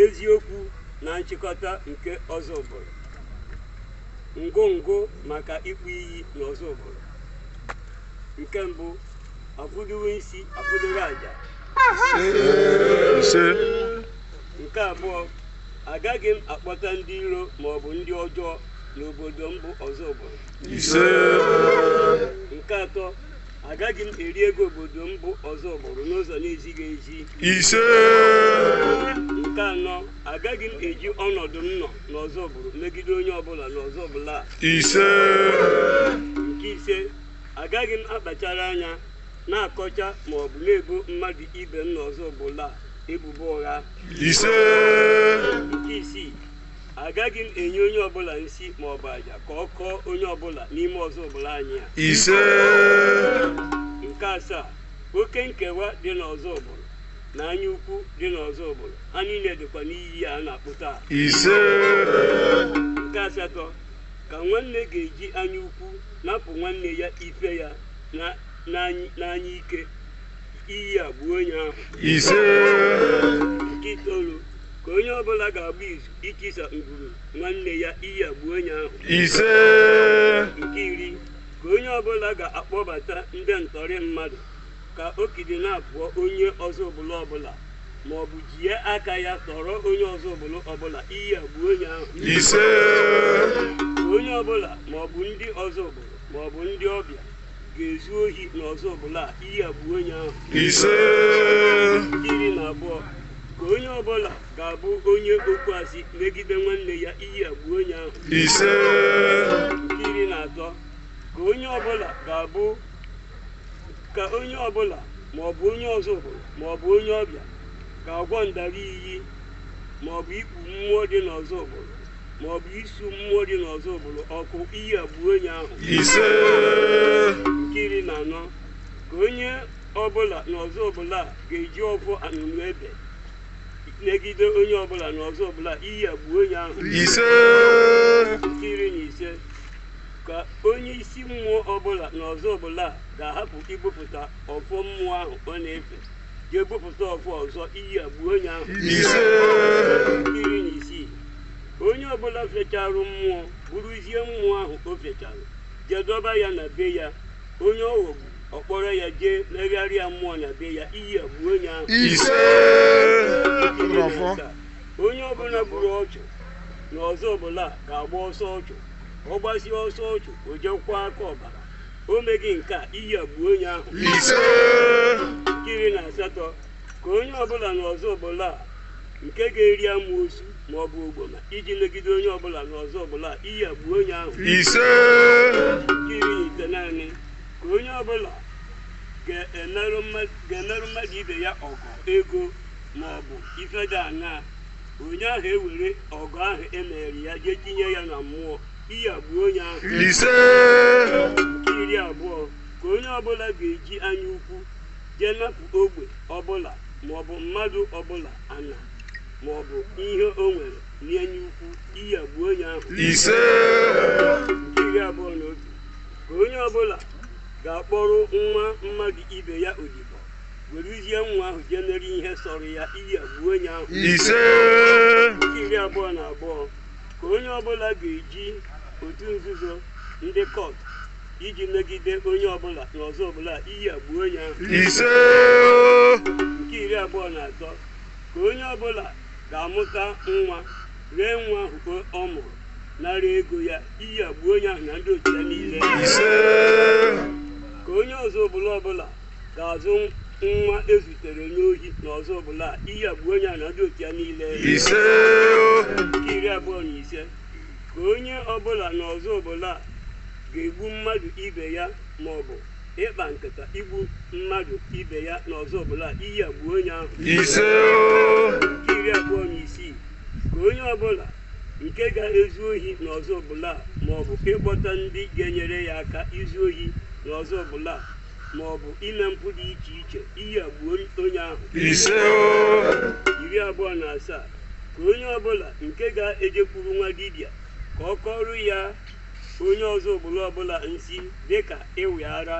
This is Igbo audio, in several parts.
eziokwu na nchịkọta nke Ọzụbụlụ ngụngụ maka ịkpụ iyi na Ọzụbụlụ nke mbụ akwụdowe isi akwụdowe aja ise nke abụọ agaghị m akpọta ndị iro ma ọ bụ ndị ọjọọ n'obodo m bụ Ọzụbụlụ ise nke atọ agaghị m eri ego obodo m bụ Ọzụbụlụ n'ụzọ na-ezighị ezi ise nke anọ agaghị m eji ọnọdụ m nọ n'Ọzụbụlụ megide onye ọbụla n'Ọzụbụlụ a ise nke ise Agaghị m akpachara anya na-akọcha ma ọ bụ na-ebo mmadụ ibe m n'Ọzụbụlụ a ebubo ụgha. Ise. Nke isii, agaghị m enye onye ọbụla nsi ma ọ bụ aja ka ọ kọọ onye ọbụla n'ime Ọzụbụlụ anyị a. Ise. Nke asaa, oke nkewa dị n'Ọzụbụlụ na anya ukwu dị n'Ọzụbụlụ ha niile dịkwa n'iyi a na-akpụ taa. Ise. Nke asatọ, ka nwanne ga-eji anya ukwu napụ nwanne ya ife ya na- n'any- n'anya ike iyi a gbuo onye ahụ ise nke itoolu ka onye ọbụla ga-agba izu itisa ngwuru nwanne ya iyi a gbuo onye ahụ ise nke iri ka onye ọbụla ga-akpọbata ndị ntọrị mmadụ ka o kidnapụọ onye Ọzụbụlụ ọbụla ma ọ bụ jie aka ya tọrọ onye Ọzụbụlụ ọbụla iyi a gbuo onye ahụ ise onye ọbụla ma ọ bụ ndị Ọzụbụlụ ma ọ bụ ndị ọbịa ga-ezu ohi na Ọzụbụlụ a iyi a gbuo onye ahụ ise iri na abụọ ka onye ọbụla ga-abụ onye okwu asị megide nwanne ya iyi a gbuo onye ahụ ise nke iri na atọ ka onye ọbụla ga-abụ ka onye ọbụla ma ọ bụ onye Ọzụbụlụ ma ọ bụ onye ọbịa ga-agwọ ndara iyi ma ọ bụ ikpu mmụọ dị n'Ọzụbụlụ ma ọ bụ isu mmụọ dị n'Ọzụbụlụ ọkụ iyi a gbuo onye ahụ ise nke iri na anọ ka onye ọbụla n'Ọzụbụlụ a ga-eji ọgwụ anụnụ ebe megide onye ọbụla n'Ọzụbụlụ a iyi a gbuo onye ahụ ise nke iri na ise ka onye isi mmụọ ọbụla na Ọzụbụlụ a ga-ahapụ ibupụta ọfọ mmụọ ahụ ọ na-efe jee bupụta ọfọ ọzọ iyi a gbuo onye ahụ ise nke iri na isii onye ọbụla fecharụ mmụọ buruzie mmụọ ahụ o fechara jee dọba ya na be ya onye ọ ghọgbu ọ kpọrọ ya jee megharịa mmụọ na be ya iyi a gbuo onye ahụ ise Ọfọ. onye ọbụla gburu ọchụ na Ọzụbụlụ a ga-agba ọsọ ọchụ ọ gbasie ọsọ ọchụ o jee kwọọ aka ọbara o meghị nke a iyi a gbuo onye ahụ ise nke iri na asatọ ka onye ọbụla n'Ọzụbụlụ a nke ga-eri amoosu ma ọ bụ ogboma iji megide onye ọbụla n'Ọzụbụlụ a iyi a gbuo onye ahụ ise nke iri na itenaanị ka onye ọbụla ga-emerụ mma- ga-emerụ mmadụ ibe ya ọgụ ego ma ọ bụ ife dị aṅaa onye ahụ ewere ọgụ ahụ e mere ya jee tinye ya na mmụọ iyi a gbuo onye ahụ ise nke iri abụọ ka onye ọbụla ga-eji anya ukwu jee napụ ogbe ọbụla maọbụ mmadụ ọbụla ana maọbụ ihe o nwere n'anya ukwu iyi a gbuo onye ahụ ise nke iri abụọ na otu ka onye ọbụla ga-akpọrọ nwa mmadụ ibe ya odibo weruzie nwa ahụ jee mere ihe sọrọ ya iyi a gbuo onye ahụ ise nke iri abụọ na abụọ ka onye ọbụla ga-eji otu nzuzo ndị cult iji megide onye ọbụla na Ọzụbụlụ a iyi a gbuo onye ahụ ise nke iri abụọ na atọ ka onye ọbụla ga-amụta nwa ree nwa ahụ ọ mụrụ nara ego ya iyi a gbuo onye ahụ na ndị otu ya niile ise ka onye Ọzụbụlụ ọbụla ga-azụ nwa e zutere n'ohi na Ọzụbụlụ a iyi a gbuo onye ahụ na ndị otu ya niile ise o nke iri abụọ na ise ka onye ọbụla na Ọzụbụlụ a ga-egbu mmadụ ibe ya ma ọ bụ ịkpa nkata igbu mmadụ ibe ya na Ọzụbụlụ a iyi a gbuo onye ahụ ise o nke iri abụọ na isii ka onye ọbụla nke ga-ezu ohi na Ọzụbụlụ a ma ọ bụ ịkpọta ndị ga-enyere ya aka izu ohi na Ọzụbụlụ a ma ọ bụ ime mpụ dị iche iche iyi a gbuo onye ahụ ise iri abụọ na asaa ka onye ọbụla nke ga-ejekwuru nwa dibịa ka ọ kọrọ ya onye Ọzụbụlụ ọbụla nsi dịka ịwị ara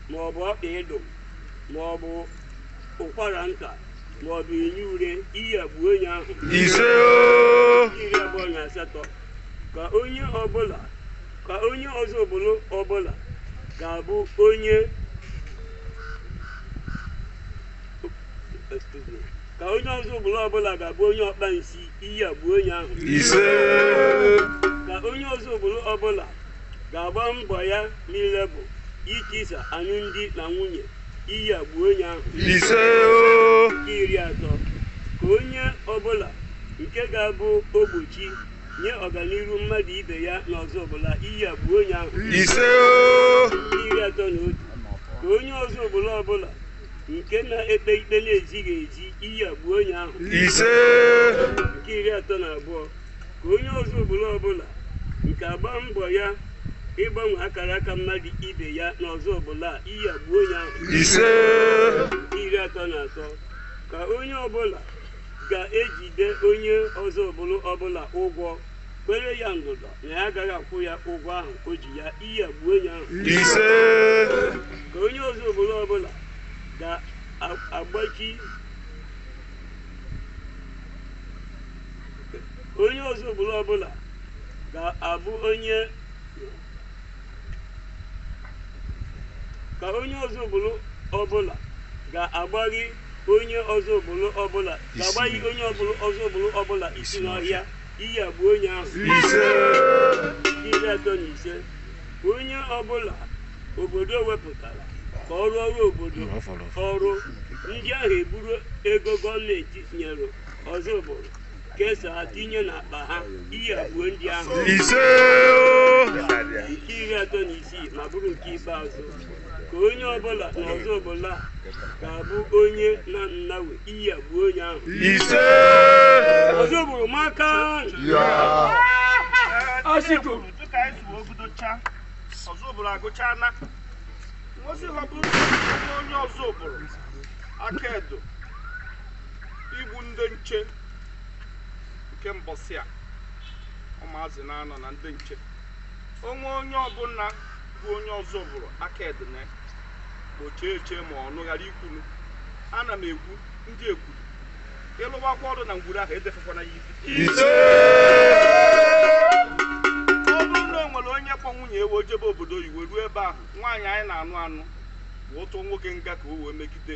ma ọ bụ ọkpa ịdụ ma ọ bụ ụkwara nta ma ọ bụ enye ure iyi a gbuo onye ahụ ise iri abụọ na asatọ ka onye ọbụla ka onye Ozubulu ọbụla ga-abụ onye Excuse me. ka onye Ozubulu ọbụla ga-abụ onye ọkpa nsi iyi a gbuo onye ahụ ise ka onye Ozubulu ọbụla ga-agba mbọ ya niile bụ itisa alụmdi na nwunye iyi a gbuo onye ahụ ise o nke iri atọ ka onye ọbụla nke ga-abụ ogbochi nye ọganiru mmadụ ibe ya n'Ozubulu iyi a gbuo onye ahụ ise o nke iri atọ na otu ka onye Ozubulu ọbụla nke na-ekpe ikpe na-ezighị ezi iyi a gbuo onye ahụ ise nke iri atọ na abụọ ka onye Ozubulu ọbụla nke agba mbọ ya ịgbanwe akara aka mmadụ ibe ya na Ozubulu iyi a gbuo onye ahụ ise iri atọ na atọ ka onye ọbụla ga-ejide onye Ozubulu ọbụla ụgwọ kwere ya ndụdọ na ya agaghị akwụ ya ụgwọ ahụ o ji ya iyi a gbuo onye ahụ ise ka onye Ozubulu ọbụla ga-agbachi onye Ozubulu ọbụla ga-abụ onye ka onye Ozubulu ọbụla ga-agbaghi onye Ozubulu ọbụla isi n'ọhịa iyi a gbuo onye ahụ ise iri atọ na ise onye ọbụla obodo wepụtara ka ọ rụọrụ obodo ọrụ ndị ahụ eburu ego gọọmenti nyere Ozubulu kesaa tinye n'akpa ha iyi a gbuo ndị ahụ ise nke iri atọ na isii ma bụrụ nke ikpeazụ ka onye ọbụla na Ozubulu ga-abụ onye na nnawe iyi a gbuo onye ahụ ise Ozubulu amaka asịgo dịka anyị zuo ogudocha Ozubulu agụcha na ngosi ọ bụrụ onye Ozubulu aka edo igbu ndị nche nke mbọsị a ụmụazị na-anọ na ndị nche o nwee onye ọbụla bụ onye Ozubulu aka edene gbochie eche ma ọnụ ghara ikwulu ana m ekwu ndị ekwuru ịlụwakwa ọrụ na ngwuru ahụ edefekwana ya ibi ọ bụrụ na o nwere onye kpọ nwunye e wee jebe obodo oyibo ruo ebe ahụ nwaanyị anyị na-anụ anụ wee tụọ nwoke nga ka o wee megide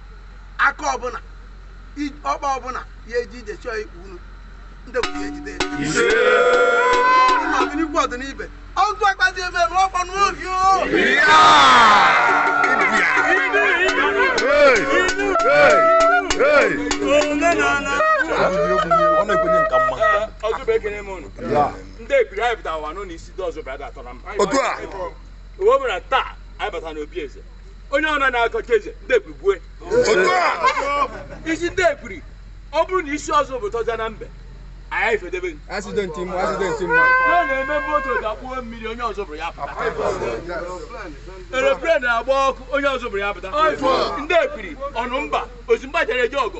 aka ọbụla i- ọkpa ọbụla ya eji ije chọọ ikpu unu ndị bụ ya ejide ọ dị n'ikwu ọ dị n'ibe ọgụ akpati ebe ebe ọkpọ n'obi o ọ na-ekwenye nka mma ọzọba ekene m unu ndị ebiri anyị bịara ụwa nọ n'isi dị ọzọba ya ga-atọ na mba Otu a. o webụra taa anyị bata n'obi eze onye ọna na-akọcha eze ndị ebiri gbue isi ndị ebiri ọ bụrụ na isi ọzọ bụ tọja na mbe anyị ifedebe gị. Accident mma, accident mma. na na-eme moto ga-akpụo mmiri onye ọzọ buru ya pụta aeroplane na-agba ọkụ onye ọzọ buru ya pụta ndị ebiri ọnụ mba ozimgba jere eje ọgụ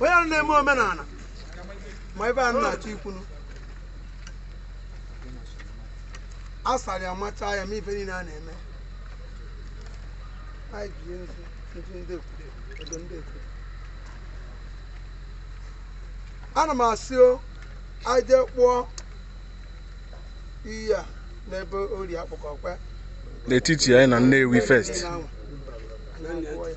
onye ahụ na-eme omenala ma ife a na-achọ ikwunu a sara ya machaa ya ma ife niile a na-eme anyị bie ndụ ndụ ndị obodo obodo ndị obodo ana m asị o anyị jee kpụọ iyi a n'ebe ori akpụkọ kwe n'etiti anyị na Nnewi first Niile ahụ. Anyị kpụọ ya.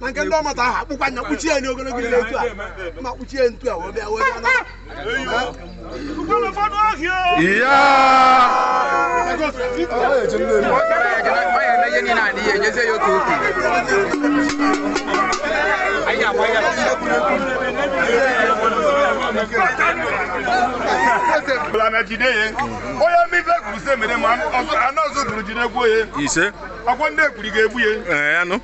na nke ndị ọmata ahụ akpụkwa anya kpuchie ya n'ogologo ile etu a ma kpuchie ya ntu a wee bịa wee bịa na Iya! bụla na jide ya onye mmiri kwuru sị mere ma anọ ọzọ bụrụ jide gbuo ya Ise. ọkwa ndị ekwuri ga-egbu ya Ee, anụ.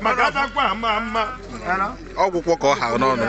maka atakwa ama ama ọgwụkwọ ka ọ ha n'ọnụ